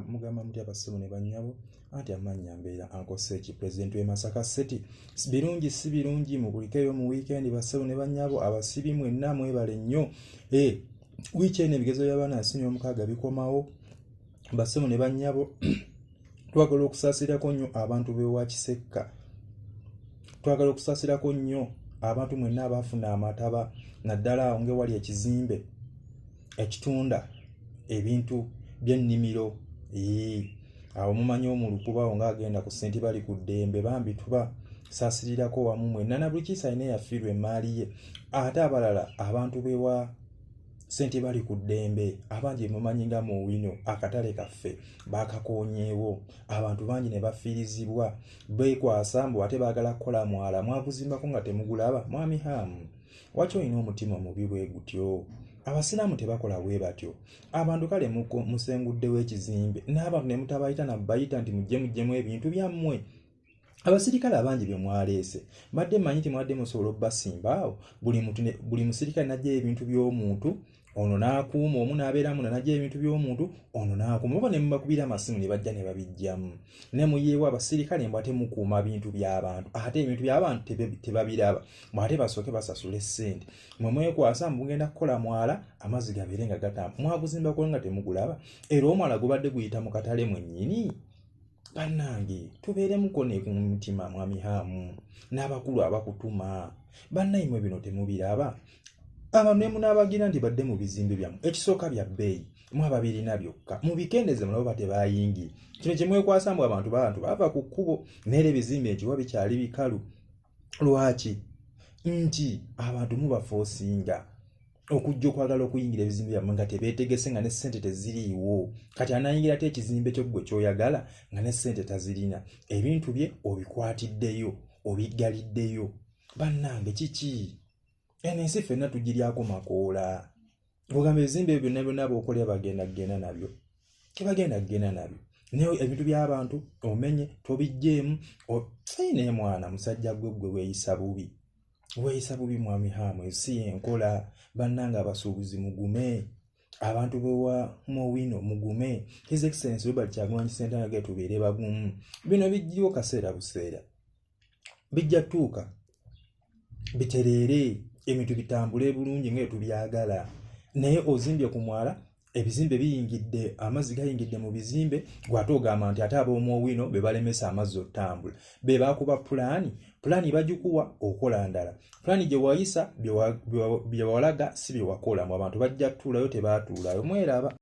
mugamba muti abasimu ne bannyabo anti amannya mbeera ankosa eki pulezidenti w'e masaka city birungi si birungi mubulikeyo mu wiikendi basimu ne bannyabo abasibi mwenna mwebale nnyo e eh, wiiki eno ebigezo by'abaana asini omukaaga bikomawo basimu ne bannyabo twagala okusaasirako nnyo abantu b'ewa kisekka twagala okusaasirako nnyo abantu mwenna abaafuna amataba naddala awo ngewali ekizimbe ekitunda ebintu by'ennimiro awo mumanyi omulukubawo ng'agenda ku senti bali ku ddembe bambi tuba saasirirako wamu mwenna na buli kiisa alina eyafiirwa emaali ye ate abalala abantu bewa sente bali ku ddembe abangi mumanyi nga mu wino akatale kaffe bakakonyeewo abantu bangi ne bafiirizibwa bekwasa mbu ate baagala kukola mwala mwaguzimbako nga temugulaba mwami haamu waki olina omutima omubi bwe gutyo abasiraamu tebakola bwe batyo abantu kale musenguddewo ekizimbe n'abantu ne mutabayita nabayita nti mujje mujjemu ebintu byammwe abasirikale abangi bye mwaleese mbadde manyi nti mwadde musobola obubasimbaawo buli musirikale najjayo ebintu by'omuntu ono n'akuuma omu n'abeeramu nanagya ebintu by'omuntu ono n'akuuma oba ne mubakubira amasimu ne bajja ne babiggyamu ne muyeewo abasirikale mbu ate mukuuma bintu by'abantu ate ebintu by'abantu tebabiraba mbu ate basooke basasule ssente mwe mwekwasa mbu mugenda kukola mwala amazzi gabeere nga gatamba mwaguzimbako nga temugulaba era omwala gubadde guyita mu katale mwennyini bannange tubeeremuko ne ku mutima mwami haamu n'abakulu abakutuma bannaimwe bino temubiraba aba ne munaabagira nti badde mu bizimbe byammwe ekisooka bya bbeeyi mwaba birina byokka mubikendeze mulabo ba tebayingi kino kyemwekwasa mbu abantu babantu baava ku kkubo neera ebizimbe nkiwa bikyali bikalu lwaki nti abantu mubafa osinga okujja okwagala okuyingira ebizimbe byammwe nga tebeetegese nga ne ssente teziriiwo kati anayingira ate ekizimbe kyo ggwe kyoyagala nga ne ssente tazirina ebintu bye obikwatiddeyo obiggaliddeyo bannange kiki eno ensi ffenna tugiryako makoola ogamba ebizimbe ebyo byonna byonna bookolera bagenda kugenda nabyo tebagenda kugenda nabyo naye ebintu by'abantu omenye tobijjeemu naye mwana musajja gwe gwe weeyisa bubi weeyisa bubi mwami haamu ensi yenkola bannanga abasuubuzi mugume abantu bewa mowino mugume his excellence robert kyagulanyi sentaga tubeere bagumu bino bijjiriwo kaseera buseera bijja tuuka bitereere ebintu bitambule bulungi nga etubyagala naye ozimbye ku mwala ebizimbe biyingidde amazzi gayingidde mu bizimbe gwate ogamba nti ate ab'omuowino be balemesa amazzi okutambula be bakuba pulaani pulaani bagikuwa okola ndala pulaani gye wayisa bye walaga si bye wakola mu abantu bajja tuulayo tebaatuulayo mweraba